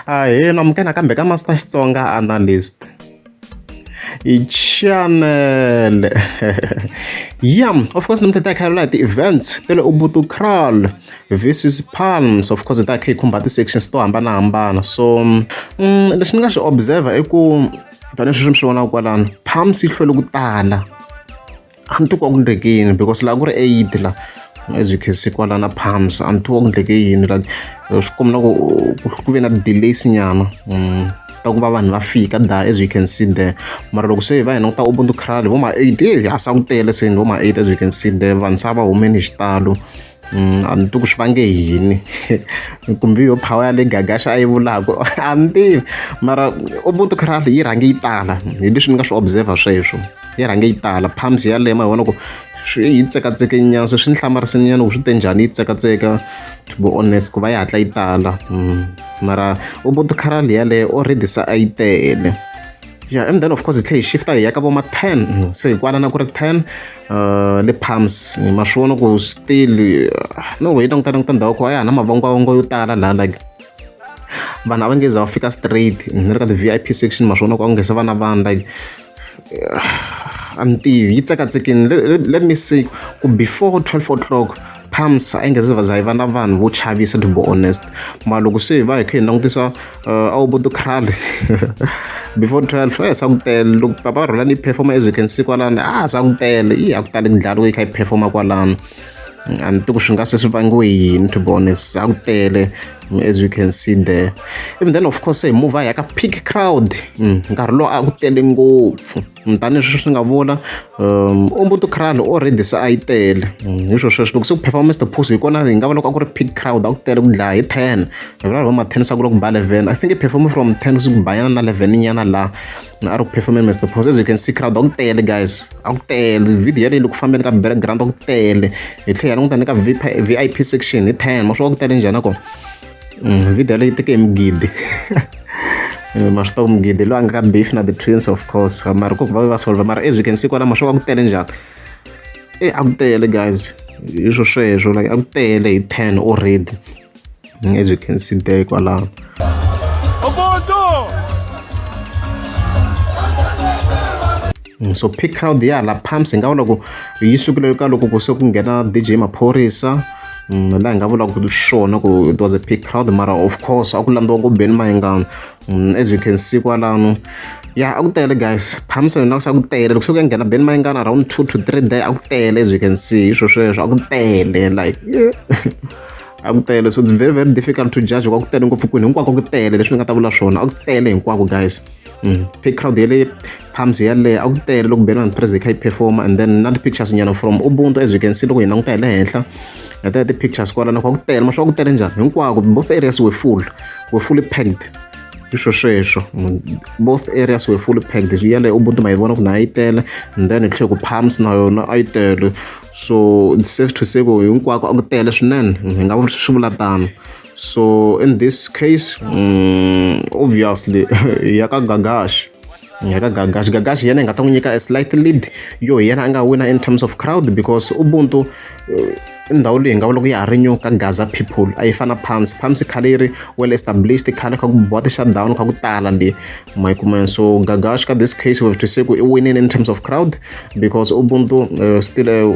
Ahee namukela nakambe ka Master Xitsonga Analyst. Hi chanele. Yeah, of course namuntlha ta khalela hi ti-events ta le Ubuntu Kraal versus Palms. Of course ta kha yi khumba ti-sections to hambanahambana. So mm, leswi ni nga swi observer i ku tanihileswi mi swi vonaka kwalano, Palms yi hlwele ku tala. a ni titwa ku endleke yini because laha ku ri eight la as you can see kwala na palms a ni titwa ku endleke yini la swi kombela ku ku ve na ti-delays nyana mm, ta ku va vanhu va fika da as you can see there mara loko se hi va hi languta ubuntu crowd vo ma eight eh, a sa ku tele se ni vo ma eight as you can see there vanhu se a va humeni hi xitalo Mm, a ni tivi ku swi vange yini kumbe yo power ya le gagaxa a yi vulaka a ni tivi mara ubuntu crowd yi rhange yi tala hi leswi ni nga swi observer sweswo yi rhange yi tala pumps ya lema hi vona ku swi yi tsekatseke nyana se swi ni hlamarise nyana ku swi te njhani yi tsekatseka to be honest ku va yi hatla yi tala mm, mara ubuntu crowd yaleyo already se a yi tele yeah and then of course hi tlhe hi shifta hi ya ka vo ma 10 se hi kwala na ku ri 10 uh, le palms ma swi vona ku still uh, no way tong tong tindhawu ku a ya ha na mavongwavongo yo tala laha like vanhu a va nge za va fika straight ni ri ka ti-vip section ma swi vona ku a ku nge se va na vanhu like uh, a ni tivi yi tsekatseki let me see ku before 12 o'clock palms a yi nga se va za yi va na vanhu vo chavisa to be honest mara loko se hi va hi kha hi langutisa uh, aobodo cral before 12 eh sa ku tele loko papa rhola ni performa as you can see kwalani ah sa ku tele yi a ku tali ndlalo yi kha yi performa kwalani a ni tiku swi nga se swi vangiwe yini to be honest a ku tele as you can see there even then of course hi move a ya ka peak crowd mm, nkarhi lowu a ku tele ngopfu tanihileswi swi nga vula um umbuto crowd already se a yi tele mm, hi swo sweswo loko se ku performa mr phusi hi kona hi nga va loko a ku ri peak crowd a ku tele ku dlaya hi ten hi vula va ma ten sa ku loko ba eleven i think i performe from ten ku ku bayana na eleven nyana laha na a ri ku performe mr phusi as you can see crowd a ku tele guys a ku tele video yaleyi loko fambeni ka background a ku tele hi tlhela hi languta ni ka vip section hi ten ma swi va ku tele njhani nakona Mm, video leyi teke migidi eh, ma swi tiva ku migidi loyi a nga ka beef na the twins of course mara ku va va solve mara as we can see kwalamo swo va ku tele njhani e a ku tele guys hi swo sweswo like a ku tele hi ten already mm, as we can see there kwalaho Mm, so pick crowd ya la pumps hi nga vula ku yi sukile ka loko ku se ku nghena dj maphorisa mm, laha hi nga vulaka swona ku it was a pick crowd mara of course a ku landziwa ku beni mahingano mm, as you can see kwalano ya a ku tele guys phamisa ni langusa ku tele loko se ku ya nghena beni mayingana around two to three day a ku tele as you can see hi swo sweswo a ku tele like a ku tele so it's very very difficult to judge kwa ku tele ngopfu kwini hinkwako ku tele leswi ni nga ta vula swona a ku tele hinkwako guys Mm. crowd yale palms yaleyo a ku tele loko beni vanhu president kha yi performa and then na ti-pictures nyana from ubuntu as you can see loko hi languta hi le henhla hi taya ti-pictures kwalana kha ku tele masho ku tele njhani hinkwako both areas were full were fully packed iswo sweswo both areas were fully packed yale ubuntu ma yi vona ku na yi tele and then hi tlhe ku palms na yona a yi tele so it's safe to say ku hinkwako a ku tele swinene hi nga swi vula tano so in this case mm, obviously yaka gagash yaka gagash gagash yena nga ta n'wi nyika a slight lead yo yena a nga wina in terms of crowd because ubuntu eh, i ndhawu leyi nga vula ku ya ha ri nyo ka gaza people a yi fana pams pams khale yi ri well established khale kha ku boha ti-shutdown kha ku tala le ma yi kumeni so gagash ka this case we have to say ku i winile in terms of crowd because ubuntu uh, still uh,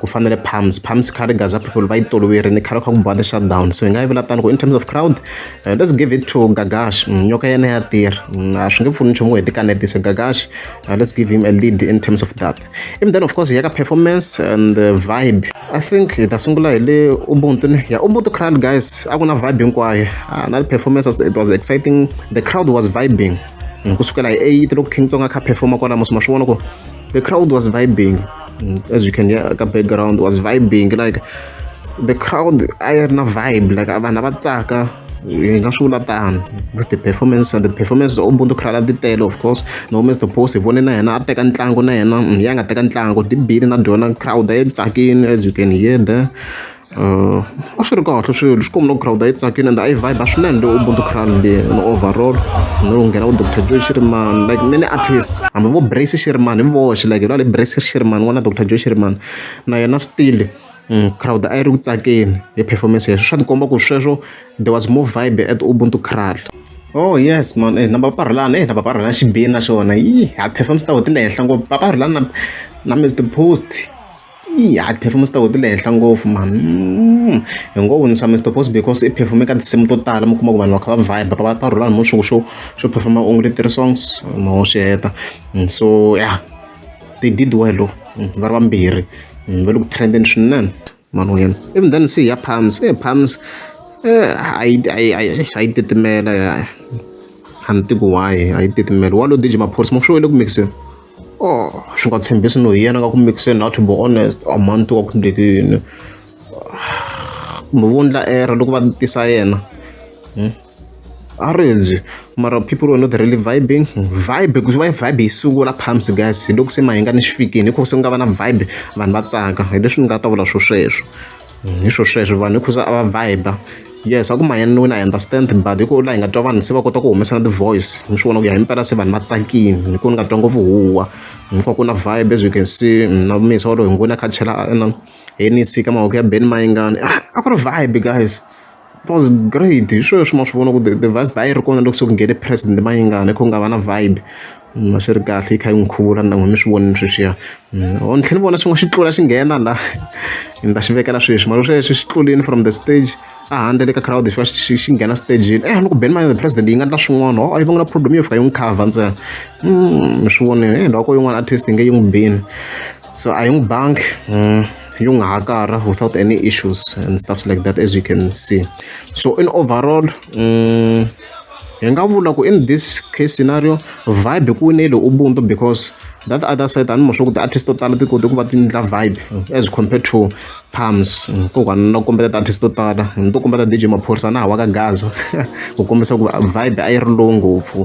ku fanele palms palms khale gaza people va yi toloverini khale kha ku biwa ti-shutdown so hi nga yi vula tani ku in terms of crowd uh, let's give it to gagash mm, nyoka yena ya tirha mm, a swi nge pfuni nchumu hi tikanetise gagash uh, let's give him a lead in terms of that even then of course ya ka performance and uh, vibe i think hi ta sungula hi le ubuntu ne ya ubuntu crowd guys a ku na vibe hinkwayo uh, na performance it was exciting the crowd was vibing mm, kusukela hi 8 loko king tsonga kha performa kwalamo sima swi vona ku the crowd was vibing mm, as you can hear the background was vibing like the crowd I had na vibe like vanhu a va tsaka hi nga swi vula tano with the performance and the performance o buntu khrala ti tele of course no mr boss hi vone na yena a teka ntlangu na yena mm, ya nga teka ntlangu ti bile na dyona crowd a yi tsakini as you can hear there a swi ri kahle swilo xikwembu loko girawundi a yi tsakile ende a yi vibe swinene leyi ubuntu ground leyi ni overall no nghena ku doctor joy xirimani like many artist hambi vo brace xirimani hi voxe like la le brace xirimani n'wana doctor joy xirimani na yena still crowd a yi ri ku tsakeni hi performance yeswo swa tikomba ku sweswo there was more vibe at ubuntu cral oh yes man na papa rhulani na papa rhulani xibini na xona yi ha performance ta ho ti le henhla ngopfu papa rhulani na na mister post. i ha tiphefumu ta wena ti le henhla ngopfu mhani hi ngo winisa Mister Boss because i perform-e ka tinsimu to tala mi kuma ku vanhu va kha va vibe va va rhula hi movha swa ku xo perform-a onge ti three songs ma ho swi heta so ya they did well va ri vambirhi va le ku trend-eni swinene mhani wa yena even then se ya Palms e Palms a yi a yi a yi a yi titimela a ni tivi ku why a yi titimela wa lo DJ Maphorisa ma swi vona ku mix-eni. Oh, swi nga tshembisi no hi yena ka ku mixe not to be honest a month wa ku ndleke yini kumbe vo ndla error loko va tisa yena hmm? a rindzi mara people were not really vibing vibe because why vibe yi sungula pumps guys hi loko se mahinga ni xifikini hi ku se ku nga va na vibe vanhu va tsaka hi leswi ni nga ta vula swo sweswo Hi swo sweswo vanhu hikuza a va vibe yes a ku manyanisiwile I understand but hi ku laha hi nga twa vanhu se va kota ku humesa na ti-voice mi swi vona ku ya hi mpela se vanhu va tsakile hi ku ni nga twa ngopfu huwa ni ku va ku na vibe as you can see na muyisa walowo hi n'wina a kha a chela Heineken ka mavoko ya Ben Mayengani a ku ri vibe guys. it was great hi swona leswi ma swi vona ku the vice a yi ri kona loko se ku nghene president Mayingani a kha ku nga va na vibe a swi ri kahle yi kha yi n'wi khuvula ni n'wina mi swi vonile sweswiya or ni tlhela ni vona xin'wana xi tlula xi nghena la ni ta xi vekela sweswi mara sweswi xi tlulini from the stage a handle le ka crowd xi va xi xi nghena stejini e ni ku beni mayini the president yi nga endla swin'wana o yi va nga na problem yo fika yi n'wi cover ntsena mi swi vonile hi loko yin'wana artist yi nge yi n'wi bini. So a hi n'wi bangi hmm, yi nga ha karha without any issues and stuffs like that as you can see so in overall um, hi nga vula ku in this case scenario vibe ku winele ubuntu because that other side ani mosho ku ti-artist to tala ti kote ku va ti ndla vibe as compared to palms ko kwana na kombeta ti-artist to tala ni to kombeta dj maphorisa na ha wa ka gaza ku kombisa ku vibe a yi ri lowu ngopfu